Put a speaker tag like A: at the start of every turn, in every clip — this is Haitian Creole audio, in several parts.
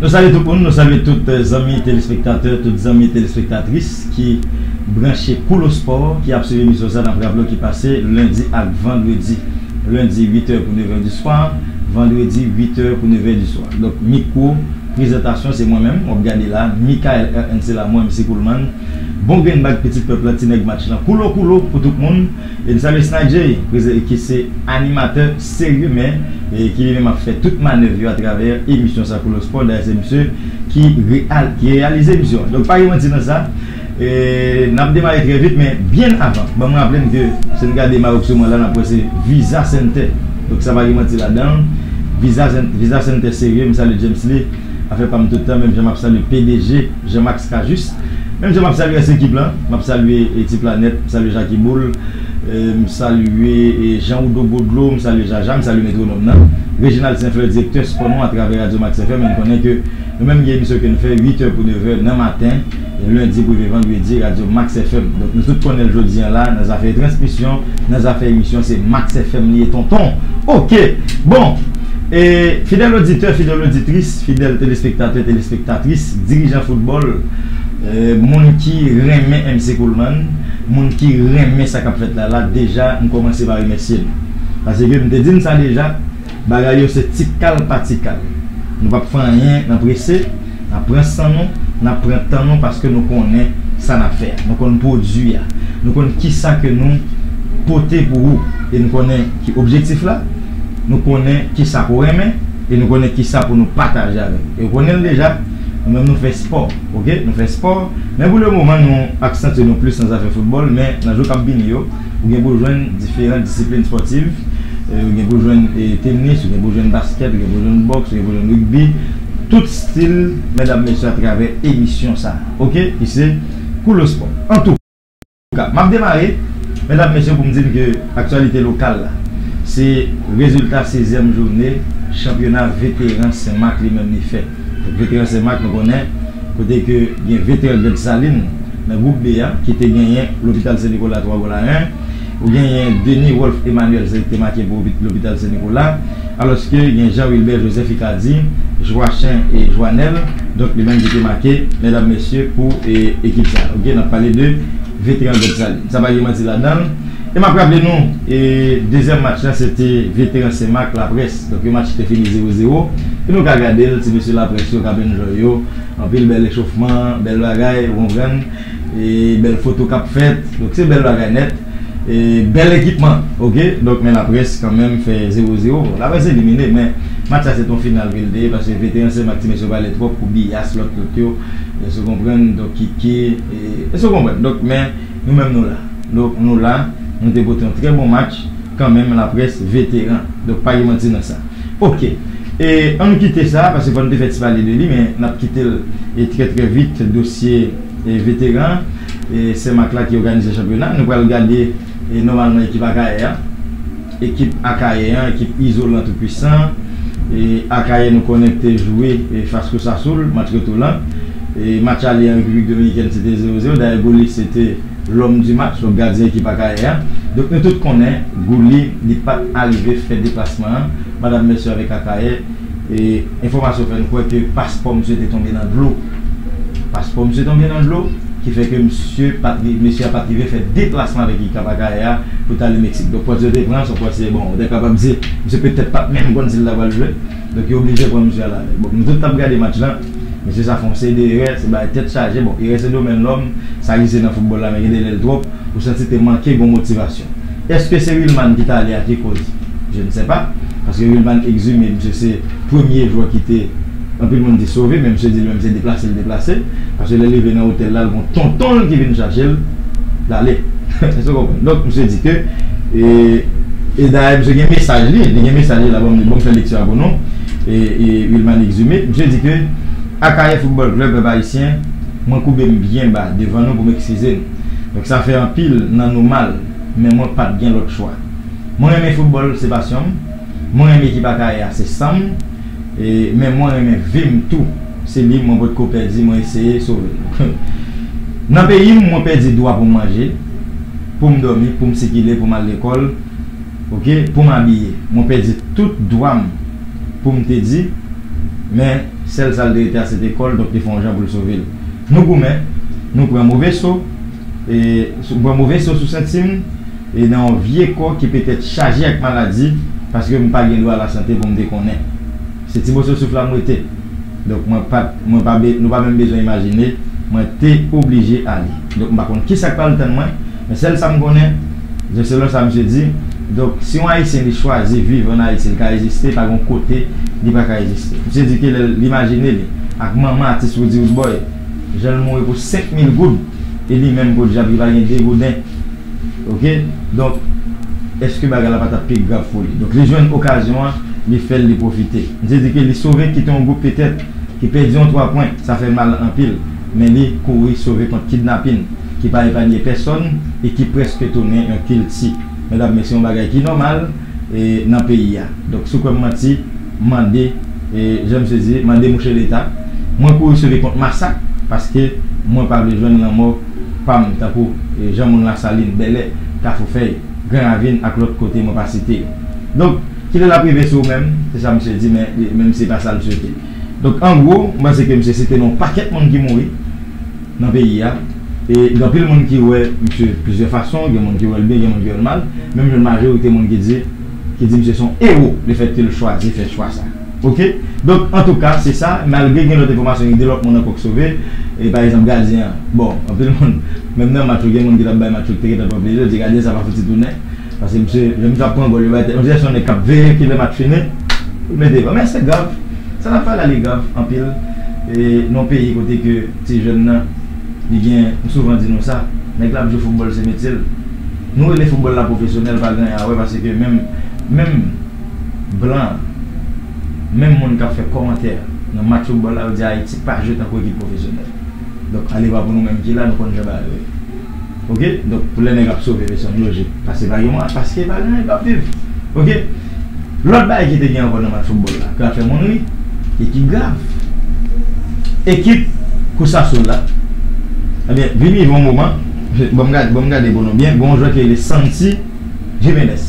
A: Nou salye tout moun, nou salye tout zanmi telespektatè, tout zanmi telespektatris ki branche Koulo Spò, ki ap swiv emisyon sa, nap raple w ki pase lendi ak vandredi, lendi 8 è pou 9 è di swa, vandredi 8 è pou 9 è di swa. Donk mikwo prezantasyon se mwen menm wap gade la, Mickael RN se la mwen, M. Coolman, bon grenn bag pitit pèp la, ti nèg match lan, Koulo Koulo pou tout moun. Elizabeth Snijay prezan ki se animatè serye men ki li menm ap fè tout manèv yo atravè emisyon sa Koulos Sport dayè se misye ki reyalize emisyon an donk pa gen manti nan sa nap demare trè vit men byen avan banm raple n ke si n gade Maroc souman la nap wè se Visa Center donk sa pa gen manti ladan l Visa Center serye m salye James Lee afè pa m tout tan menm jan map salye pdg. Jean Max Cajuste, Menm jan m ap salye rès ekip lan, m ap salye Ti Planèt, m salye Jaki Boul, m salye Jan Oudo Gwo Dlo, m salye Jaja, m salye Metwonòm nan, Reginald Sen Flè direktè spò nou atravè Radyo Max FM e n konnen ke nou menm gen emisyon ke n fè 8 è pou 9 è nan maten lendi pou rive vandredi Radyo Max FM donk nou tout konnen l jodi an la nan zafè transmisyon nan zafè emisyon se Max FM li ye tonton ok bon e fidèl oditè fidèl oditris. Fidèl telespektatè, telespektatris, dirijan foutbòl, moun ki renmen MC Coleman, moun ki renmen sa k ap fèt la la, deja m kòmanse pa remèsye nou. Paske m te di n sa deja, bagay yo se ti kal pa ti kal. Nou p ap fè anyen nan prese, n ap pran san nou, n ap pran tan nou paske nou konnen sa n ap fè a. Nou konn pwodui a. Nou konn kisa ke nou pote pou ou. E n konnen ki objektif la. Nou konnen kisa pou renmen e nou konnen kisa pou nou pataje avèk nou. E ou konnenl deja, nou menm nou fè spò ok, nou fè spò men pou le moman nou aksantye nou plis nan zafè foutbòl men nan jou kap vini yo ou gen pou jwenn diferan disiplin spòtiv ou gen pou jwenn tenis, ou gen pou jwenn baskèt, ou gen pou jwenn bòks, ou gen pou jwenn rigbi tout stil medam mesye atravè emisyon sa ok ki se Koulou Spò. M ap demare, medam e mesye, pou m di n ke aktyalite lokal la, se rezilta sezyèm joune chanpyona veteran Sen Mak li menm li fè. Donk veteran Sen Mak nou konnen kote ke gen veteran Gran Desalin nan gwoup B a ki te genyen Lopital Sen Nikola 3 gol a 1. Ou genyen Denis Rolph Emmanuel se li k te make pou Lopital Sen Nikola. Alòske gen Jean Wilbert Joseph Icardi, Joachin e Joanel, donk li menm ki te make medam mesye pou ekip sa a. Ok, n ap pale de veteran Gob Saline. Sa pa gen manti ladan l. E m ap raple nou, dezyèm match lan se te veteran Senmak, Laprès. Donk yon match ki te fini zewo zewo. E nou ka gade l, ti mesye Laprès yo k ap enjoy yo. Anpil bèl echofman, bèl bagay, ou konprann. Bèl foto kap fèt donk se bèl bagay nèt bèl ekipman ok donk men laprès kanmenm fè 0 0 laprès elimine men match la se ton final ke li te ye paske veteran se mak ti mesye yo pale twòp kou biyas lòt lòt yo èske ou konprann donk kiki èske ou konprann donk men nou menm nou la donk nou la nou te pote yon trè bon match kanmenm laprès veteran donk pa gen manti nan sa ok. E ann kite sa a paske fò n te fè ti pale de li men n ap kite l e trè trè vit dosye e veteran e Sen Mak la ki òganize chanpyona nou pral gade e nòmalman ekip Akayè an ekip Akayè an ekip izolan tou pwisan e Akayè nou konnen k te jwe e fas Cosasul match retou lan e match ale an Repiblik Dominikèn se te zewo zewo dayè Gouly se te lòm di match donk gadyen ekip Akayè an donk nou tout konnen Gouly li pa t arive fè deplasman an Madam Mercier avèk Akayè, enfòmasyon fè n kwè ke paspò msye te tonbe nan dlo. Paspò msye tonbe nan dlo, ki fè ke msye pa t rive, mesye a pa t rive fè deplasman avèk li Kap Akayè a pou t ale Meksik. Donk pòs yo te pran, s on pòs se bon, ou te kapab di, msye petèt pa t menm konn si l ta pral jwe. Donk yo oblije pran msye al avè l. Bon, nou tout t ap gade match lan, mesye sa fè yon seri de erè, se bagay tèt chaje. Bon, erè se domèn lòm, sa egziste nan foutbòl la men gen de lè l twòp, ou santi te manke gen yon motivasyon. Eske se Wilmann ki tale a ki koz? Je ne sais pas, paske Wilmann exime misye se premye jwè ki te anpil moun di sove men misye di li menm se deplase li deplase paske lè l rive nan otèl la l gon tonton l ki vin chache l l ale èske w konprann donk misye di ke e dayè misye gen mesaj li li gen mesaj li la banm li banm fè lekti a pou nou Wilmann exime misye di ke Akayè football club pèp ayisyen mwen koube m byen ba devan nou pou m ekskize m. Donk sa fè anpil nan nou mal, men mwen pat gen lòt chwa. Mwen renmen foutbòl, se pasyon m. Mwen renmen ekip Akayè a, se san m. Men mwen renmen vi m tou, se li mwen potko pèdi, mwen eseye sove l. Nan peyi m, mwen pèdi dwa pou m manje, pou m dòmi, pou m sikile, pou m al lekòl, ok, pou m abiye. Mwen pèdi tout dwa m pou m te di, men sèl sa l te rete a se te kò l, donk te fè yon jan pou l sove l. Nou goumen, nou pran move so, nou pran move so sou senti m e nan yon vye kò ki petèt chaje ak maladi paske m pa gen dwa lasante pou m te konnen. Se ti moso souf la m rete. Donk mwen pa t, mwen pa, nou pa menm bezwen imajine, mwen te oblije ale. Donk m pa konn kisa k pral tann mwen, men sèl sa m konnen, Donk selon sa misye di, donk si yon ayisyen li chwazi viv an Ayiti li ka egziste pa gen yon kote li pa ka egziste. Misye di ke lè l imajine li ak manman atis Roody Roodboy jan l mouri pou 5 mil goud e li menm podyab li pa gen 2 gouden ok donk eske bagay la pa t ap pi grav pou li. Donk li jwenn okazyon an li fè l li pwofite. Misye di ke li sove kite yon gwoup petèt ki pèdi yon 3 pwen sa fè mal anpil men li kouri sove kont kidnapin. ki pa epanye pèsòn e ki prèske tounen yon kilti, medam men se yon bagay ki nòmal e nan peyi a. Donk si w kwè m manti, mande e jan misye di, mande mouche leta. Mwen kouri sove kont masak paske mwen pa vle jwenn lanmò pa m tankou e jan moun Lasalin, Bèlè, Kafoufèy, Gran Ravin ak lòt kote mwen pa site yo. Donk, kilè l ap rive sou menm? Se sa misye di men li menm se pa sa l swete. Donk an gwo, m panse ke misye site non pakèt moun ki mouri. nan peyi a e gen anpil moun ki wè misye plizyè fason gen moun ki wèl byen gen moun ki wèl mal menm jan majorite moun ki di ki di misye son ewo le fèt kel chwazi fè chwa sa ok donk antouka se sa malgre gen lòt enfòmasyon ki di lòt moun ankò k sove e pa egzanp gadyen an bon anpil moun menm nan match yo gen moun ki tap bay match yo k te gentan pran plezi yo di gadyen sa pa fouti tounen Pase misye lè misye ap pran gòl yo bay tèt on dirè son nèg kap veye kilè match fini poul mete gòl men se grav sa nap pale a li grav anpil non peyi kote ke ti jèn nan li gen m souvan di nou sa nèg la ap jwe foutbòl se metyel nou rele foutbòl la pwofesyonèl pa gen anyen a wè pase ke menm menm blan menm moun kap fè kòmantè nan match foutbòl la yo di ayiti pa jwe tankou ekip pwofesyonèl donk alevwa pou nou menm ki la nou konn jan bagay yo ye. Ok donk pou lè nèg ap sove mesye an loje pase pa gen mwa paske pa gen mwa yo pap viv ok lòt bagay ki te gen ankò nan match foutbòl la ke ap fè moun ri e ki grav ekip kou Sassoul la ebyen vin rive yon moman banm gade banm gade pou nou byen gen yon jwè ki rele Santi Jimenez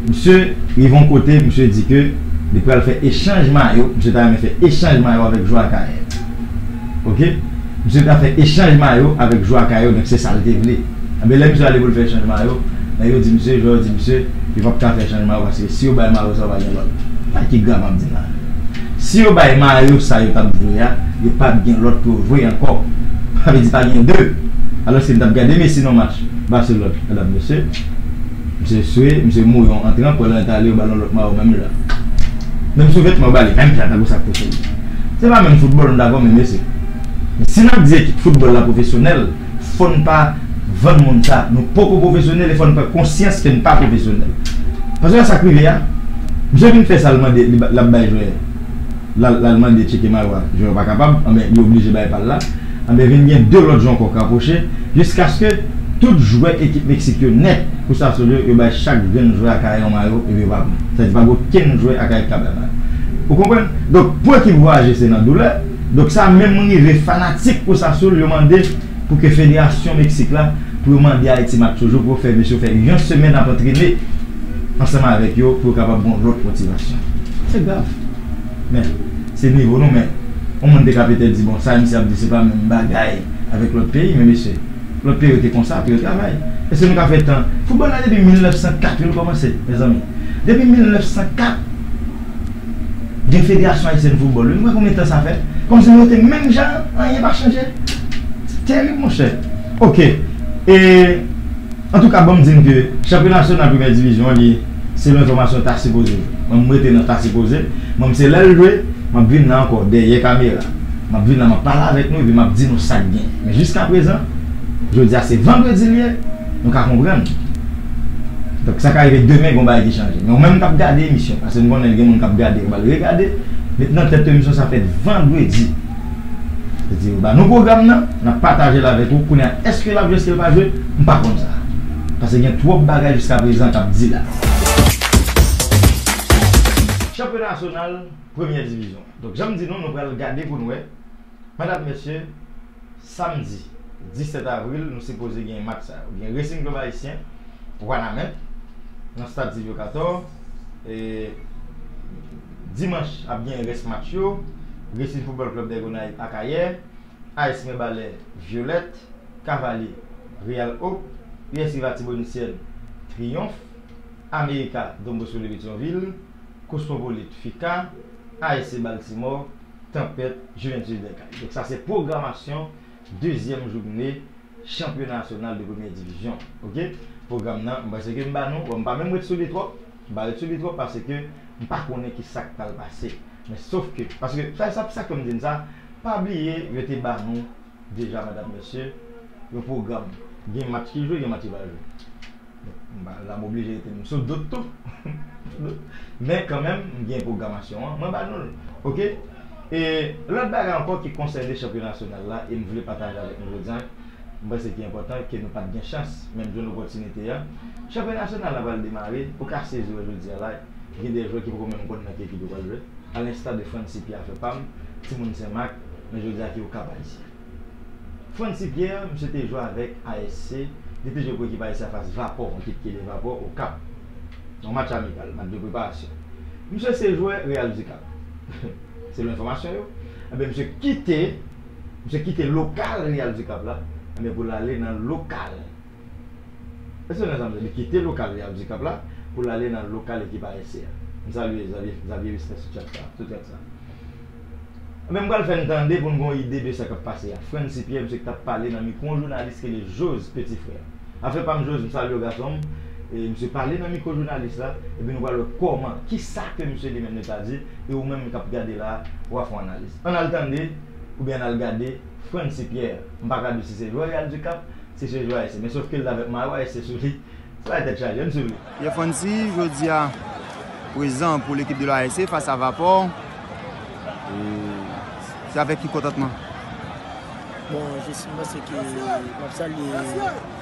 A: misye rive yon kote misye di ke li pral fè echanj mayo misye ta renmen fè echanj mayo avèk jwè Akayè. ok misye ta fè echanj mayo avèk jwa kay yo donk se sal te vle ebyen lè misye ale poul fè echanj mayo nèg yo di misye jwè yo di misye yo pap ka fè echanj mayo paske si yo bay mayo sa yo pa gen lòt gade ki grav map di la si yo bay mayo sa yo tap jwe a yo pap gen lòt pou yo jwe ankò sa vle di pa gen 2 alòske mtap gade Messi nan match Barcelone medam mesye. Misye swe, misye mouri yon antran pou lan tale yo bal yon lòt mayo menm jan. Menm sou vètman yo bali menm jan tankou sak pousel. Se pa menm foutbòl nou dakò men mesye. Men si nap di ekip foutbòl la pwofesyonèl fòn pa vann moun sa nou poko pwofesyonèl e fòn pran konsyans ken pa pwofesyonèl. Paske wè sak rive a misye vin fè sal mande lap bay jwè lal mande tcheke mayo a jwè yo pa kapab anben li oblije bay pal la. Anben vin gen 2 lòt jonkò k rapwoche jiskaske tout jwè ekip Meksik yo nèt pou sa sou yo, yo bay chak grenn jwè Akayè yon mayo epi yo pa pran. Sa vle di pa gen okenn jwè Akayè ki ka bay mayo. Ou konprann? Donk pou ekip vwayaje se nan doulè. Donk sa menm rive fanatik Cruz Azul yo mande pou ke federasyon Meksik la pou yo mande Ayiti match toujou pou yo fè mesye yo fè yon semèn ap antrene ansanm avèk yo pou yo kapab gon lòt motivasyon. Se grav. Men, se nivo nou men, yon moun te ka petèt di bon sa misye ap di se pa menm bagay avèk lòt peyi men mesye, lòt peyi yo te konsa pou yo travay. Èske nou ka fè tan, foutbòl la depi 1904 wi l kòmanse mezanmi. Depi 1904 gen federasyon ayisyèn foutbòl wi, nou wè konbyen tan sa fè? Kòmsi nou rete menm jan an, anyen pa chanje? Se tèrib monchè. Ok, e, antouka banm di n ke chanpyona nasyonal premyè divizyon an li. Selon enfòmasyon ta sipoze mwen m rete nan ta sipoze mwen m se lè l jwe m ap vin la ankò dèyè kamera m ap vin la m ap pale avèk nou epi m ap di nou sa k gen men jiskaprezan jodi a se vandredi l ye nou ka konprann donk sa ka rive demen gon bagay ki chanje men ou menm k ap gade emisyon pase m konnen gen moun k ap gade yo ba l regade met nan tèt ou emisyon sa fèt vandredi yo ba nou pwogram nan n ap pataje l avèk ou kounye a èske l ap jwe èske l pa jwe m pa konn sa. Pase gen twop bagay jiska prezan kap di la. Chanpyona nasyonal premyè divizyon. Donk janm di nou nou pral gade poun wè medam mesye samdi 17 avril nou sipoze gen match sa yo gen Racing Club Haïtien Wanament nan stad Sylvio Cator e dimanch ap gen rès match yo Racing Football Club Dègonayv Akayè. AS Mirebalais Violette, Cavalier, Real Hope, US Rive Artibonitienne, Triomphe, America, Don Bosco de Petion-Ville, Cosmopolite, FICA, ASC Baltimore, Tempête, Juventus des Cayes. Donk sa se pwogramasyon dezyèm joune chanpyona nasyonal de premyè divizyon. Ok. Pwogram nan m panse ke m ba nou. Bon m pa menm ret sou li twòp. M pa ret sou li twòp pase ke m pa konnen ki sa k pral pase. Men sof ke, paske sa sa k fè m di n sa, pa bliye yo te ba nou deja medam mesye yon pwogram. Gen match ki jwe, gen match ki pa jwe. M pa la m oblije rete m sou dout tou. Men kanmenm m gen pwogramasyon an, mwen ba nou l. Ok? E lòt bagay ankò ki konsène chanpyona nasyonal la e m vle pataje avèk nou jodi a, M panse ki enpòtan ke nou pat gen chans menm jwenn opòtinite a. Chanpyona nasyonal la pral demare, ou ka sezi wè jodi a la gen de jwè ki poko menm konn nan ki ekip yo pral jwe, a lensta de Francy Pierre afè pam, timoun Sen Mak, men jodi a ki yo kap Ayisyen. Francy Pierre, misye te jwe avèk ASC, li te jwe pou ekip ASC afas Vapò, yon ekip ki rele Vapò, Okap. Yon match amikal, match de preparasyon. Misye se jwè Real Ducap, selon enfòmasyon yo. Enben misye kite. Misye kite lokal Real du Cap la ebyen pou l ale nan lokal Èske nou konprann sa m di a? Li kite lokal Real du Cap la pou l ale nan lokal ekip ASC a. M salye Xavier Respè sou chat sa, sou thread sa. Ebyen m pral fè n tande pou n gen yon ide de sa k ap pase a. Francy Pierre misye ki t ap pale nan mikwo yon jounalis ki rele Jose Petit Frère. Afè pa m Jose, m salye w gason m. E misye pale nan mikwo jounalis la epi nou pral wè kòman, kisa ke misye li menm li ta di e ou menm k ap gade la a, w a fè yon analiz. Ann al tande oubyen ann al gade Francy Pierre, m pa ka di si se jwè Real du Cap, si se jwè ASC men sof ke l avèk mayo ASC sou li, se bagay tèt chaje, ann swiv li. Pierre Francy
B: jodi a prezan pou lekip de l ASC fas a Vapor, e se avèk ki kontantman?
C: Bon, jes m panse ke m ap salye.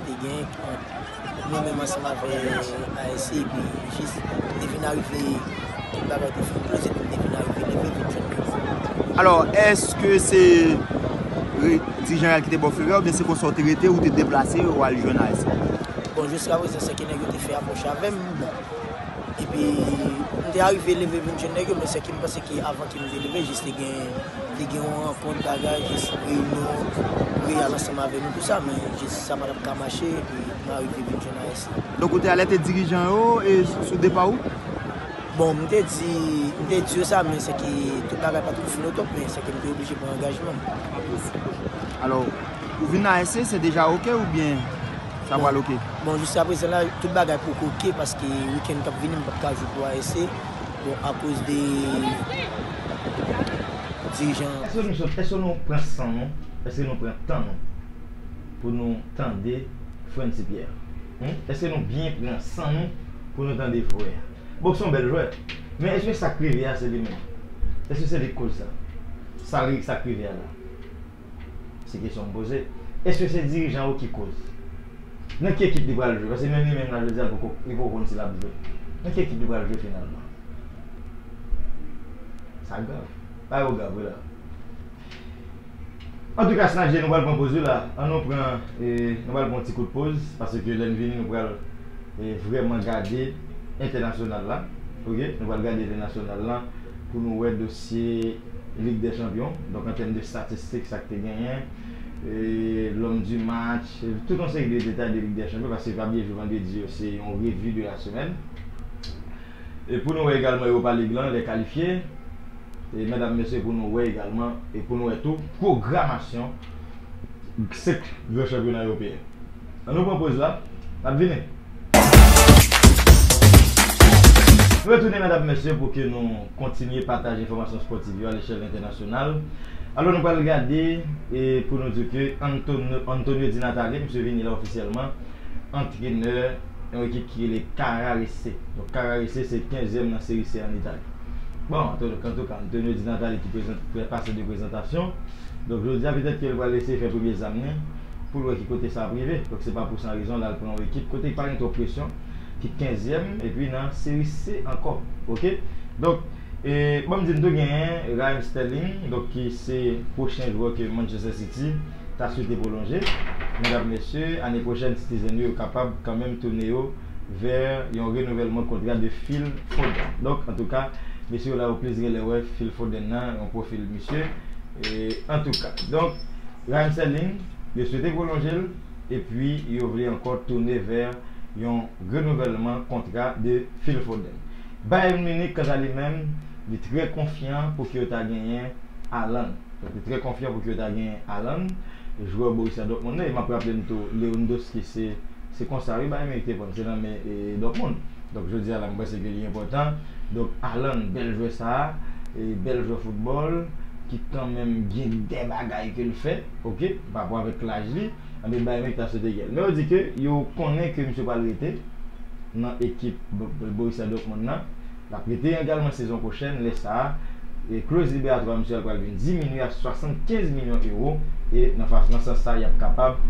C: te gen ant nou menm ansanm avè ANC epi jis te vin arive tout bagay te fin kloz epi m te vin arive leve vin jwenn Guy Philippe.
B: Alò, èske se Di Jean-Jacques ki te ba w feu vè oubyen se konsa ou te rete ou te deplase ou al jwenn ANC a? Bon, jiskaprezan
C: sèke nèg yo te fè apwòch avè m bon epi m te arive leve vin jwenn nèg yo men sèke m panse ke avan ke m te leve jis te gen Te gen yon rankont bagay jis reyinyon reyal ansanm avè nou tout sa men jis sa patap ka mache epi nou arive vin jwenn AS lan. Donk ou te alète
B: dirijan yo sou depa ou? Bon m te
C: di m te di yo sa men se ke tout bagay pat fini o top men se ke m te oblije pran angajman.
B: Alò pou vin nan AS se deja ok oubyen sa pral ok? Bon jiskaprezan la
C: tout bagay poko ok paske wikenn kap vini m pap ka jwe pou AS. Bon a koz de dirijan. Eske nou sòt? Eske nou
A: pran san nou? Eske nou pran tan nou pou nou tande frèn ti pyè a? Eske nou byen pran san nou pou nou tande jwè a? Bon son bèl jwè men eske sak rive a se li menm? Eske se li k koz sa? Sa li sak rive a la? Se kesyon m poze. Eske se dirijan yo ki koz? Nan ki ekip li pral jwe? Paske menm li menm la jodi a l poko li poko konn si l ap jwe. Nan ki ekip li pral jwe finalman? Sa grav. Bagay yo grav wi la. Antouka snadje nou pral pran poz wi la. An nou pran e nou pral pran yon ti kout poz paske lè n vini nou pral e vrèman gade entènasyonal la. Ok nou pral gade entènasyonal la pou nou wè dosye Lig dè chanpyon, donk an tèm de statistik sa k te genyen, lòm di match, tout yon seri de detay de lig dè chanpyon paske va byen jou vandredi yo se yon revi de la semèn. E pou nou wè egalman Europa League lan lè kalifye e medam mesye pou nou wè egalman e pou nou wè tou pwogramasyon 5 gran chanpyona ewopeyen. An nou pran poz la, nap vini. Nou retounen medam mesye pou ke nou kontinye pataje enfòmasyon spòtiv yo alechèl entènasyonal. Alò nou pral gade e pou nou di ke Antonio Di Natale misye vini la ofisyèlman antrenè yon ekip ki rele Carrarese. Donk Carrarese se 15 zièm nan seri se an Itali. Bon antouka Antonio Di Natale ki prezante, ki pase de prezantasyon. Donk jodi a petèt ke li pral eseye fè premye zam ni. pou l wè ki kote sa ap rive. Donk se pa pou san rezon l al pran yon ekip kote ki pa gen twòp presyon, ki kenzyèm epi nan Seri C ankò. Ok. Donk, e ban m di n tou genyen Raheem Sterling donk ki se pwochen jwè ke Manchester City ta swete pwolonje. Medam, mesye, ane pwochèn Citizen yo kapab kanmenm tounen yo vè yon renouvèlman kontra de Phil Foden. Donk, antouka, mesye yo la yo plis gen lè wè Phil Foden nan yon pwofil misye. E, antouka. Donk. Ryan Sterling yo swete pwolonje l epi yo vle ankò toune vè yon renouvèlman kontra de Phil Foden. Bayern Munich kanta li menm li trè konfyan pou ki yo ta genyen Haaland. Li trè konfyan pou ki yo ta genyen Haaland, jwè Borussia Dortmund nan e map raple n tou Lewndowski se se konsa wi Bayern Munich te pran l se nan men Dortmund. Donk jodi a la mwen panse ke li enpòtan Donk Haaland bèl jwè sa, bèl jwè foutbòl ki kanmenm gen dè bagay ke l fè ok parapò avèk laj li, anben Bayern Munich ta swete gen l. Men yo di ke yo konnen ke misye pral rete nan ekip Borussia Dortmund nan, l ap rete egalman sezon pwochèn, lè sa kloz liberatwa misye a pral vin diminye a 75 milyon ewo e nan sans sa y ap kapab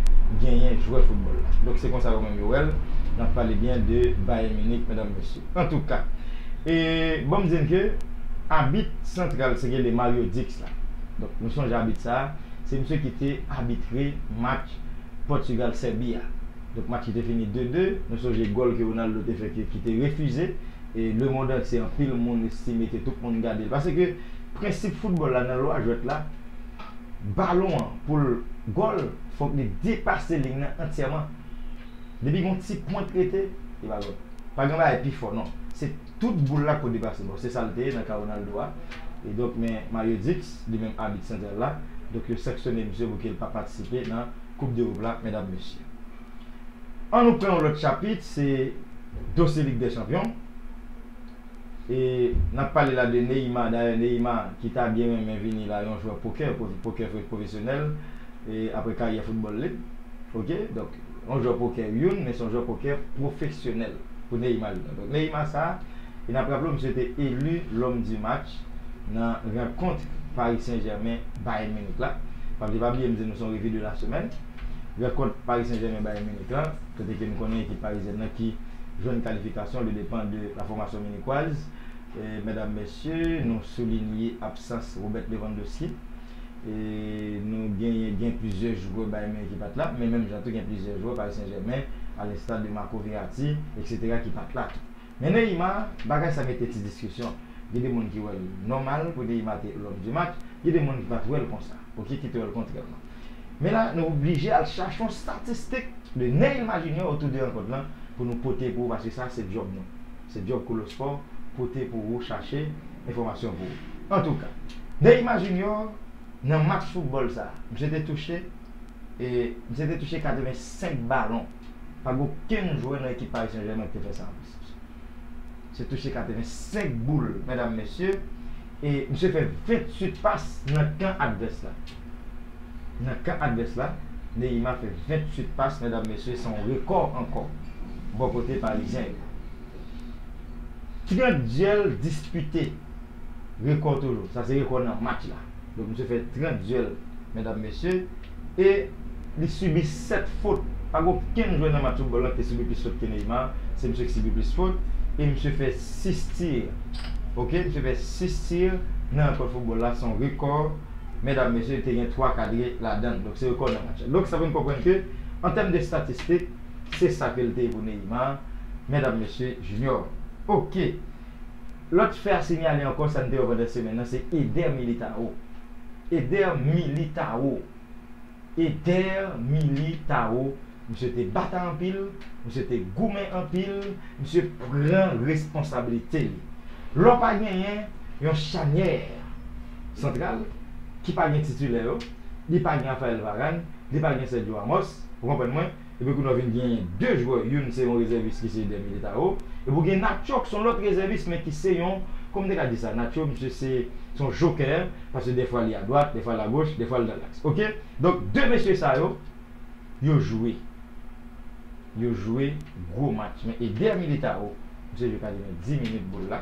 A: genyen jwè foutbòl la. Donk se konsa yo menm yo wè l, n ap pale byen de Bayern Munich medam mesye. Antouka, e ban m di n ke abit santral se rele Mario Dicks la. Donk, nou sonje abit sa a, se misye ki te abitre match Pòtigal-Sèbi a. Donk, match ki te fini 2, 2. Nou sonje gòl ke Ronaldo te fè ke, ki te refize. E lemond antye, anpil moun estime ke tout moun gade l. Paske, prensip foutbòl la nan lwa jwèt la, balon an pou l gòl, fòk li depase liy nan antyèman. Depi gon ti pwent rete, li pa bon. Pa gen bagay pi fò non. Se tout boul la ki pou depase. Bon, se sa l te ye nan ka Ronaldo a. E donk, men Mario Dix, li menm abit santral la, donk yo sanksyone misye pou ke l pa patisipe nan koup dErop la, medam mesye. An nou pran yon lòt chapit, se dosye Lig dè chanpyon. E nap pale la de Neymar dayè Neymar ki ta byen renmen vini la yon jwè pokè pokè pwofesyonèl e aprè karyè foutbòl li ok donk yon jwè pokè youn men son jwè pokè pwofesyonèl pou Neymar li donk Neymar sa e nap raple w misye te elu lòm di match nan rankontr Paris Saint Germain Bayern Munich la paske pa bliye m di nou son revi de la semèn rankontr Paris Saint Germain Bayern Munich lan kote ke nou konnen ekip parizyèn nan ki jwenn kalifikasyon le depan de la fòmasyon minikwaz. Medam, Mesye, nou soulinye absans Robert Lewandowski. Nou genyen gen plizyè jwè Bayern Munich ki pat la, men menm jan tou gen plizyè jwè Paris Saint-Germain a l'instar de Marco Verratti, eksetera ki pat la tou. Men Neymar, bagay sa mete ti diskisyon. Gen de moun ki wèl nòmal pou Neymar te l'homme du match, gen de moun ki pat wèl konsa, ok ki te wèl kontrèman. Men la nou oblije al chache yon statistik de Neil Maginier otou de rankont lan pou nou pote pou ou paske sa se djòb nou. Se djòb Kolo Spò pote pou ou chache enfòmasyon pou ou. Antouka, Neil Maginier nan match foutbòl sa, misye te touche e misye te touche 85 balon. Pa gen okenn jwè nan ekip Paris Saint-Germain ki te fè sa anplis misye. Se touche 85 boul medam mesye e misye fè 28 pas nan kan advès la. Nan kan advès la, Neymar fè 28 pas medam mesye se yon rekò ankò bò kote parizyen yo. 30 dyèl dispite rekò toujou. Sa se rekò nan match la. Donk misye fè 30 dyèl medam mesye. e li sibi 7 fot, pa gen okenn jwè nan match foutbòl lan ki te sibi plis fot ke Neymar, se misye ki sibi plis fot e misye fè 6 tir ok, misye fè 6 tir nan rankont foutbòl la, son rekò medam mesye, te gen 3 kadre ladann, donk se rekò nan match la donk sa fè nou konprann ke an tèm de statistik se sa ke li te ye pou Neymar medam mesye Junior ok. Lòt fè a sinyale ankò sa n te wè pandan semèn nan se Eder Militao Eder Militao Eder Militao Misye te batay anpil Misye te goumen anpil Misye pran responsabilite li Lè w pa genyen yon chanyè santral ki pa gen titilè yo li pa gen Raphael Varane li pa gen Sergio Ramos ou konprann mwen Epi kounya w vin gen 2 jwè, youn se yon rezèvis ki se Eder Militao, epi w gen Nacho ki se yon lòt rezèvis men ki se yon, kòman m te ka di sa, Nacho misye se yon jokè, paske dèfwa li adwat, dèfwa l agoch, dèfwa l nan laks. Ok, donk 2 mesye sa yo, yo jwe, yo jwe gwo match men Eder Militao, misye jwe kademen 10 minit boul la,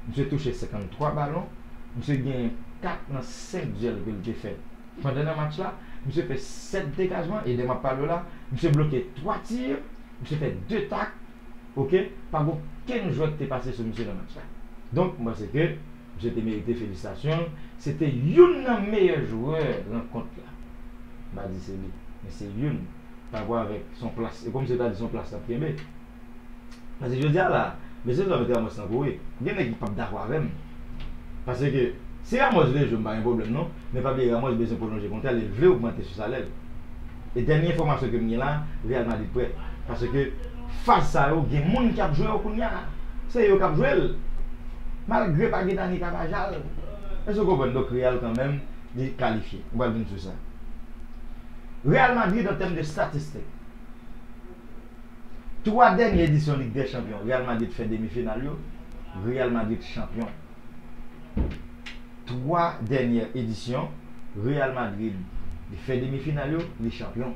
A: misye touche 53 balon, misye gen 4 nan 5 dyèl ke l te fè. Pandan nan match la, misye fè 7 degajman e lè map pale w la, misye bloke 3 tir, misye fè 2 tak ok, pa gen okenn jwè ki te pase sou misye nan match la. Donk m panse ke misye te merite felisitasyon, se te youn nan meyè jwè rankont la. M pa di se li, men se youn, pa rapò avèk son plas, e pou misye ta di son plas lap kenbe. Pase jodi a la, mesye zanmi Tramòs tankou wi, gen nèg ki pap dakò avè m. Pase ke si Ramòs vle jwe m pa gen pwoblèm non, men pa bliye Ramòs bezwen pwolonje kontra l e l vle ogmante sou salè l. E dènye enfòmasyon ke m gen la, Real Madrid prè. Pase ke faz sa yo gen moun ki ap jwe yo kounya. Se yo k ap jwe l. Malgre pa gen Dani Carvajal. Èske w konprann? Donk Real kanmèm li kalifye. M pral vin sou sa. Real Madrid an tèm de statistik. 3 dènye edisyon Lig dè Chanpyon Real Madrid fè demi final yo Real Madrid chanpyon 3 dènye edisyon Real Madrid li fè demi final yo li chanpyon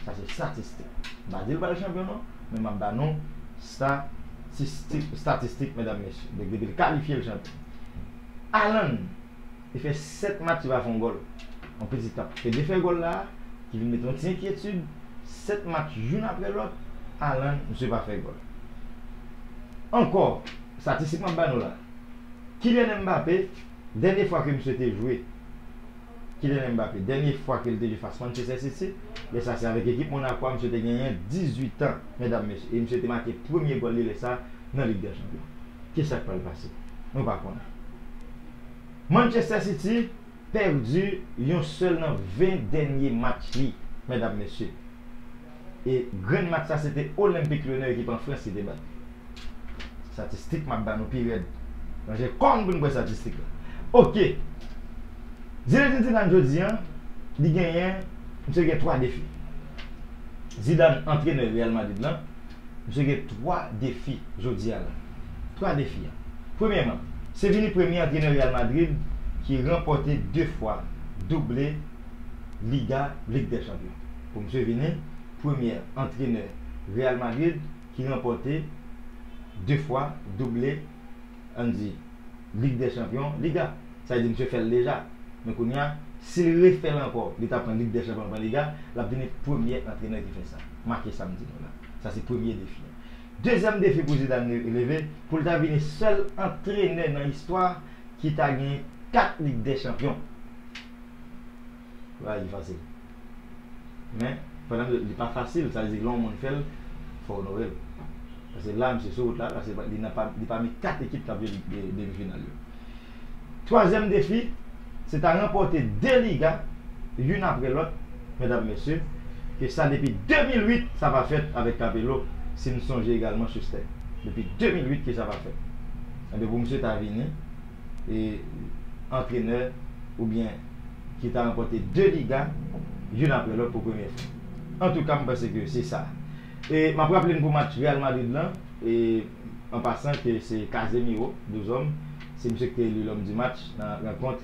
A: sa se statistik m pa di l pral chanpyon non men m ap ba nou statistik statistik medam mesye donk depi l kalifye l chanpyon Haaland Li fè 7 match li pa fè yon gòl. Yon piti tan. E defè gòl la a ki vin mete yon ti enkyetid, 7 match youn aprè lòt, Haaland misye pa fè gòl. Ankò, statistik m ap ba nou la. Kylian Mbappé, dènye fwa ke misye te jwe, Kylian Mbappé, dènye fwa ke li te jwe fas Manchester City, lè sa se avèk ekip Monaco a, misye te genyen 18 tan, medam mesye. E misye te make premye gòl li lè sa a nan Lig dè Chanpyon. Ki sa k pral pase? Nou pa konnen. Manchester City pèdi yon sèl nan 20 dènye match li medam mesye e grenn match sa se te Olympique Lyonnais ekip an Frans ki te bat li statistik map ba nou pi rèd ranje kò nou pou nou pran statistik la ok Zinedine Zidane jodi an li genyen misye gen 3 defi Zidane antrenè Real Madrid lan. Misye gen 3 defi jodi a la. 3 defi a. Premyèman, se vini premye antrenè Real Madrid ki ranpòte 2 fwa double Liga, Lig dè Chanpyon. Pou misye vini premyè antrenè Real Madrid ki ranpòte 2 fwa double. ann di Lig dè chanpyon, Liga. Sa vle di misye fè l deja. Men kounye a, si l refè l ankò, li ta pran Lig dè chanpyon, li pran Liga, l ap vini premye antrenè ki fè sa. Make sa m di nou la. Sa se premye defi a. Dezyèm defi pou Zidane leve, pou l ta vini sèl antrenè nan istwa ki ta gen 4 Lig dè chanpyon. Bagay ki fasil. Men, pandan li pa fasil, sa vle di lè yon moun fè l, fò onore l. Paske la misye sou wout la, paske li pami 4 ekip k ap jwe demi final yo. Twazyèm defi, se ta ranpòte 2 liga youn apre lòt, medam mesye, ke sa depi 2008 sa pa fèt avèk Capello, si n sonje egalman Schuster. Depi 2008 ke sa pa fèt. Enben pou misye ta vini, e antrenè oubyen ki ta ranpòte 2 liga youn aprè lòt pou premye fwa. Antouka m panse ke se sa. E m ap raple n pou match Real Madrid lan, e an pasan ke se Casemiro, Deux Hommes, se misye ki te eli L'Homme du Match nan rankont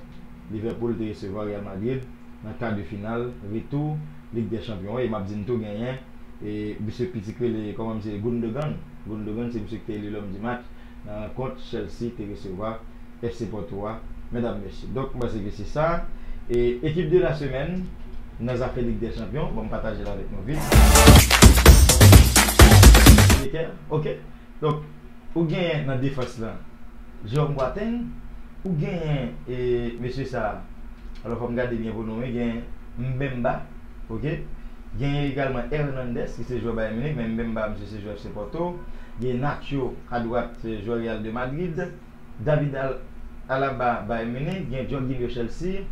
A: Liverpool te resevwa Real Madrid nan kar de final retou Lig dè Chanpyon an e m ap di n tou genyen e misye pitit ki rele kòman misye Gundogan, Gundogan se misye ki te eli L'Homme du Match. Nan rankont Chelsea te resevwa FC Porto a medam mesye. Donk m panse ke se sa e ekip de la semèn nan zafè lig dè chanpyon bon m pataje l avèk nou vit. Ok donk ou genyen nan defans lan Jerome Boateng ou genyen e mesye sa alò fò m gade byen pou nou wi gen Mbemba. ok genyen egalman Hernandez ki se jwè Bayern Munich men Mbemba misye se jwè FC Porto genyen Nacho a dwat se jwè Real de Madrid David Alaba Bayern Munich genyen Jorginho Chelsea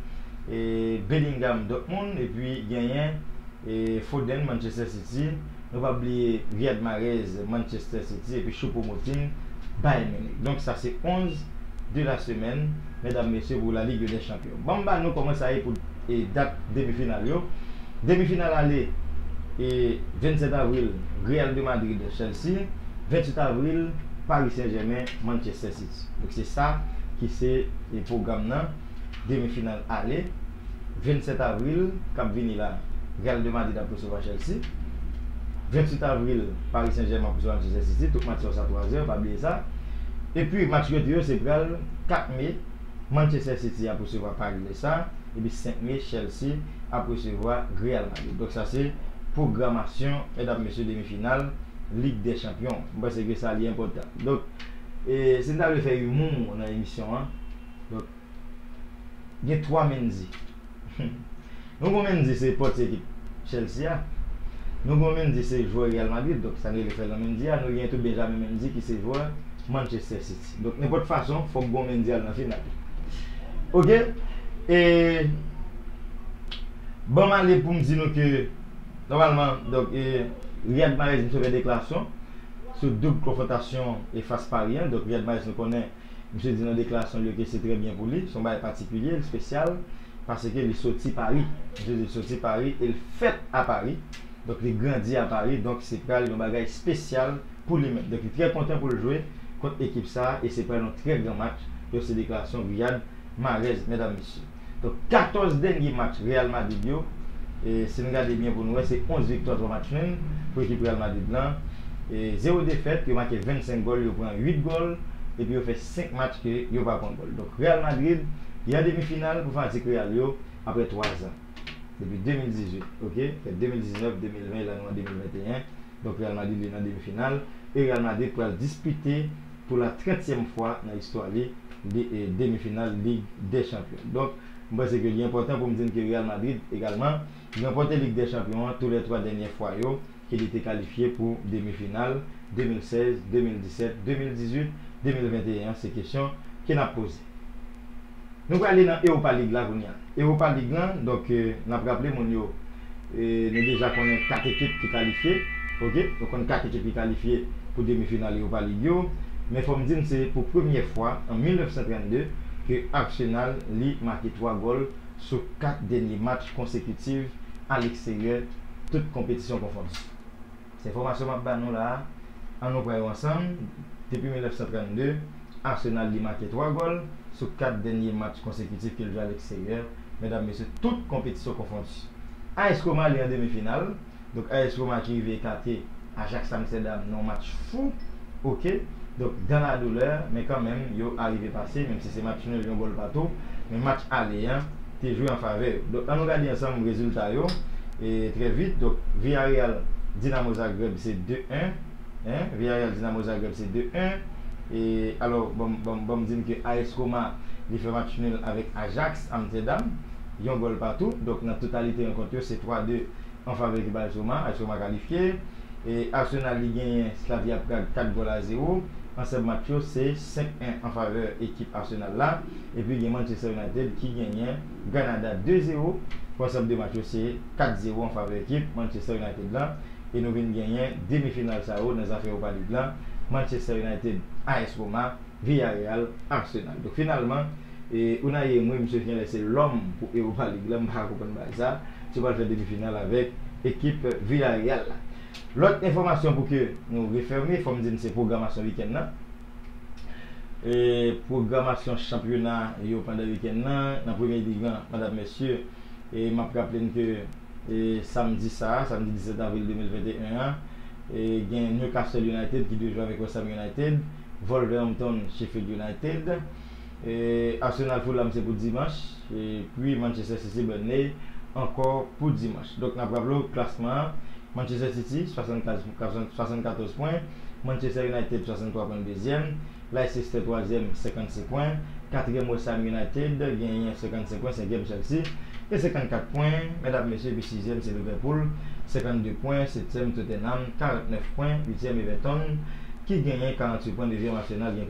A: e Bellingham Dortmund epi genyen e Foden Manchester City Nou pa bliye Riyad Mahrez, Manchester City epi Choupo-Moting, Bayern Munich. Donk sa se 11 de la semaine medam mesye pou la Ligue des Champions. Banm ba nou kòman sa ye pou dat demi final yo. Demi final ale e 27 avril Real de Madrid, Chelsea, 28 avril Paris Saint-Germain, Manchester City. Donk se sa ki se pwogram nan. demi final ale 27 avril kap vini la Real de Madrid ap resevwa Chelsea 28 avril Paris Saint Germain ap resevwa Manchester City tout match sa yo sa 3 zè pa bliye sa epi match rete yo se pral 4 mai Manchester City ap resevwa Paris le sa epi 5 mai Chelsea ap resevwa Real Madrid donk sa se pwogramasyon medam mesye demi final lig dè chanpyon mwen panse ke sa li enpòtan donk e si m ta vle fè imou nan emisyon an. Donk, gen 3 Mendy. Nou gon Mendy se pòtye ekip Chelsea a. Nou gon Mendy se jwè Real Madrid, donk sa n rele Ferland Mendy a. Nou gen tou Benjamin Mendy ki se jwè Manchester City. Donk nenpòt fason, fòk gon Mendy al nan final. Ok! E, ban m ale pou m di nou ke, nòmalman, donk, e, Riyad Mahrez misye fè deklarasyon sou doub konfwontasyon e fas Paris an. Donk, Riyad Mahrez nou konnen. Misye di nan deklarasyon l yo ke se trè byen pou li, se yon bagay patikilye, li spesyal, paske li soti Pari. Misye di l soti Pari e l fèt a Pari, donk li grandi a Pari, donk se pral yon bagay spesyal pou li menm. Donk li trè kontan pou l jwe kont ekip sa a e se pral yon trè gran match. Yo se deklarasyon Riyad Marèz, medam mesye. Donk 14 dènye match Real Madrid yo, si n gade byen pou n wè, se 11 viktwa, 3 match nul pou ekip Real Madrid lan. Zewo defèt, yo make 25 gòl, yo pran 8 gòl, epi yo fè 5 match ke yo pa pran gòl. Donk Real Madrid, li an demi final pou fanatik Real yo apre 3 zan. Depi 2018, ok? Fè 2019, 2020 e la nou an 2021. Donk Real Madrid li nan demi final e Real Madrid pral dispite. pou la trèntyèm fwa nan istwa li demi final Lig dè Chanpyon. Donk, m panse ke li enpòtan pou m di n ke Real Madrid egalman ranpòte Lig dè Chanpyon an tou lè twa dènyè fwa yo ke li te kalifye pou demi final, 2016, 2017, 2018, 2021 an se kesyon ke n ap poze. Nou prale nan Europa League la kounya. Europa League lan, donk n ap raple moun yo, nou deja konnen 4 ekip ki kalifye, ok. Nou konn 4 ekip ki kalifye pou demi final Europa League yo. Men fò m di n se pou premyè fwa an 1932 ke Arsenal li make 3 gòl sou 4 dènye match konsekitiv aleksteryè, tout konpetisyon konfonn. Se enfòmasyon m ap ba nou la a, an nou pran yo ansanm, depi 1932, Arsenal li make 3 gòl sou 4 dènye match konsekitif ke l jwe aleksteryè, medam mesye, tout konpetisyon konfondi. AS Roma li an demi final, donk AS Roma ki rive ekate Ajax Amsterdam nan yon match fou, ok, donk dans la douleur, men kanmenm yo arive pase, menm si se match nul yon gòl patou, men match ale an, te jwe an favè yo. Donk an nou gade ansanm rezilta yo trè vit. Donk Villarreal Dinamo Zagreb se 2 1 hein Villarreal Dinamo Zagreb se 2 1 e alò banm banm di n ke AS Roma li fè match nul avèk Ajax Amsterdam yon gòl patou. Donk nan totalite rankont yo se 3 2 an favè ekip AS Roma. AS Roma kalifye e Arsenal li genyen Slavia Prague 4 gòl a 0. Ansanm match yo se 5 1 an favè ekip Arsenal la. Epi gen Manchester United ki genyen Granada 2 zero, konsèp 2 match yo se 4 zero an favè ekip Manchester United lan e nou vin genyen demi final sa yo nan zafè Europa League lan, Manchester United, AS Roma, Villarreal, Arsenal. Donk finalman e Unai Emry misye genlè se lòm pou Europa League lan, m pa ka konprann bagay sa, misye pral fè demi final avèk ekip Villarreal la. Lòt enfòmasyon pou ke nou refème, fò m di n se pwogramasyon wikenn nan. pwogramasyon chanpyona yo pandan wikenn nan nan premye lig lan medam mesye e map raple n ke samdi sa a samdi 17 avril 2021 an gen Newcastle United ki dwe jwe avèk West Ham United Wolverhampton Sheffield United Arsenal Fulham se pou dimanch epi Manchester City Burnley ankò pou dimanch. Donk n ap raple w klasman an, Manchester City 74 pwen, Manchester United 63 pwen dezyèm, Leicester twazyèm 56 pwen, katriyèm West Ham United genyen 55 pwen, senkyèm Chelsea e 54 pwen medam mesye epi sizyèm se Liverpool 52 pwen, setyèm Tottenham 49 pwen, uityèm Everton ki genyen 48 pwen, devyèm Arsenal gen.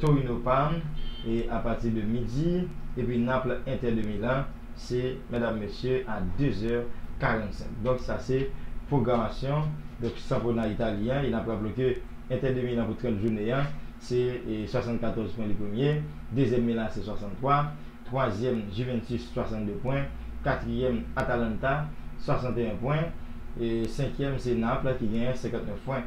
A: Torino Parme e a pati de midi epi Naples Inter de Milan se medam mesye a 2 zè 45 donk sa se pwogramasyon donk sanpwona Itali an e nap raple w ke Inter de Milan pou 30 jounen an se 74 pwen li premye dezyèm Milan AC 63 twazyèm Juventus 62 pwen katriyèm Atalanta 61 pwen e senkyèm se Naples ki genyen 59 pwen.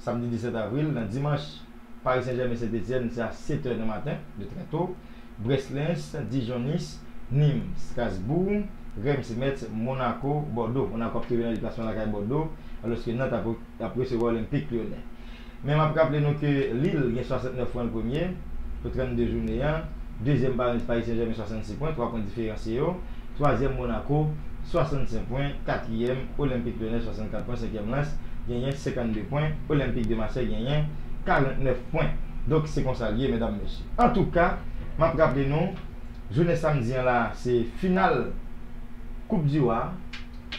A: Samdi 17 avril nan Dimanch, Paris Saint-Germain Saint Etienne se a 7 è nan maten, de trè to, Brest Lens, Dijon Nice, Nîmes Strasbourg, Reims Metz, Monaco Bordeaux. Monaco ap tonbe nan deplasman lakay Bordeaux, alòske Nantes ap resevwa Olympique Lyonnais. Men map raple nou ke Lille gen 69 pwen l premye, pou 32 jounen an, dezyèm Paris Saint-Germain 66 pwen, 3 pwen diferansye yo. twazyèm Monaco, 65 pwen, katriyèm Olympique Lyonnais, 64 pwen, senkyèm Lens genyen 52 pwen, Olympique de Marseille genyen 49 pwen. Donk se konsa l ye medam mesye. Antouka, m ap raple nou, jounen samdi an la a se final koup di wa,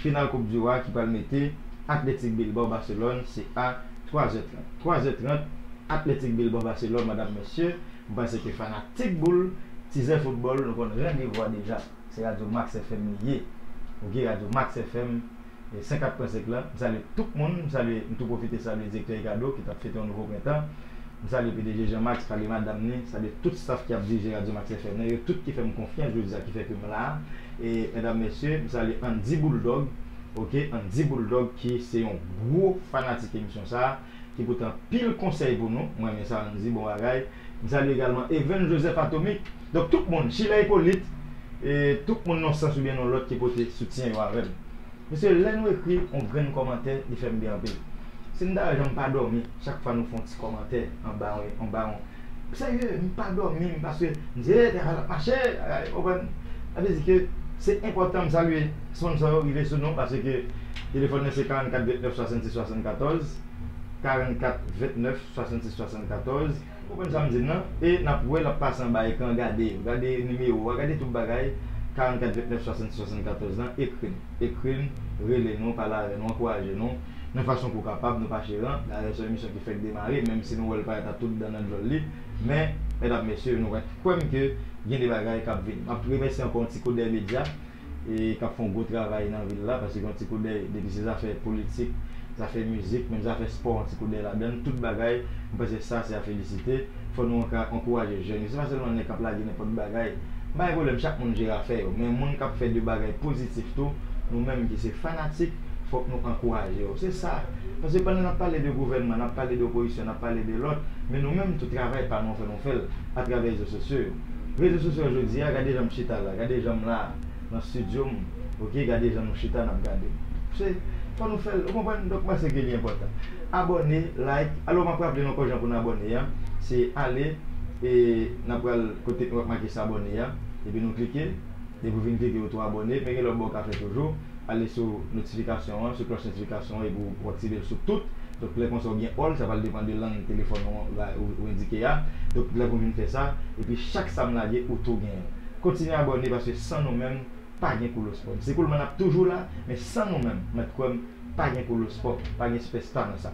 A: final koup di wa ki pral mete Athletic Bilbao Barcelone se a 3 zè 30, 3 zè 30 Athletic Bilbao Barcelone medam mesye. M panse ke fanatik boul tizè foutbòl nou konn randevou a deja se radyo max FM li ye ok radyo max FM 104 pwen 5 lan m salye tout moun m salye m tou pwofite salye direktè Ricardo ki tap fete yon nouvo prentan m salye pdg Jean Max salye madam ni salye tout staff ki ap dirije radyo max FM nan yo tout ki fè m konfyans jodi a ki fè ke m la e medam mesye m salye Andy Bouldog ok Andy Bouldog ki se yon gwo fanatik emisyon sa. ki pote anpil konsèy pou nou, mwen renmen sa Andy bon bagay, m salye egalman Evens Joseph Atomic, donk tout moun, Sheila Hyppolite, e tout moun non sans oubyen non lòt ki pote soutyen yo avèm. Mesye lè nou ekri on grenn kòmantè li fèm byen anpil. Si m ta wè jan m pa dòmi chak fwa nou fè on ti kòmantè anba on anba on serye m pa dòmi m paske m di e travay la ap mache bagay ou konprann sa vle di ke se enpòtan m salye sponsor yo rive sou nou paske Telefòn mwen se 44 29 66 74, 44 29 66 74. Ou konprann sa m di n lan? E n ap wè l ap pase anba ekran an gade yo, gade nimewo a, gade tout bagay, 44 29 66 74 lan, ekri n, ekri n, rele nou, pale avè nou, ankouraje nou nan fason ke w kapab, nou pa cheran, dayè se yon emisyon ki fèk demare, menm si nou wè l parèt a tout dan nan djòl li, men, mèdam mesye, nou kwè m ke gen de bagay k ap vini. M ap remèsye ankò yon ti kout dèy medya. e k ap fè yon gwo travay nan vil la, pase gen yon ti koudèy depi se zafè politik, zafè mizik, menm zafè spò yon ti koudèy ladan l, tout bagay, mwen panse sa se a felisite, fò nou ankouraje jèn yo, se pa sèlman nèg k ap lage nenpòt bagay, m pa gen pwoblèm chak moun jere afè yo, men moun k ap fè de bagay pozitif tou, nou menm ki se fanatik, fòk nou ankouraje yo, se sa, pase pandan n ap pale de gouvènman, n ap pale de opozisyon, n ap pale de lòt, men nou menm tou travay pa nou an fò nou fè l atravè rezo sosyo yo. Rezo sosyo jodi a gade janm chita la gade janm la nan studio m ok gade jan nou chita nap gade se fò nou fèl ou konprann donk panse ke li enpòtan abòne like alò map raple nou ankò jan pou nou abòne an se ale e nap pral kote nou wè make sabòne a epi nou klike epi ou vin klike ou tou abòne men gen lòt bagay ou ka fè toujou. ale sou notifikasyon an, sou klòch notifikasyon an epi ou aktive l sou tout. Donk lè konsa ou gen all, sa pral depan de lang telefòn ou an bay ou endike a. Donk lè pou vin fè sa, epi chak sa m lage ou tou gen l. Kontinye abòne paske san nou menm pa gen koulospob. Se koulman n ap toujou la, men san nou menm, mèt kwè m, pa gen koulospob, pa gen spèsta nan sa.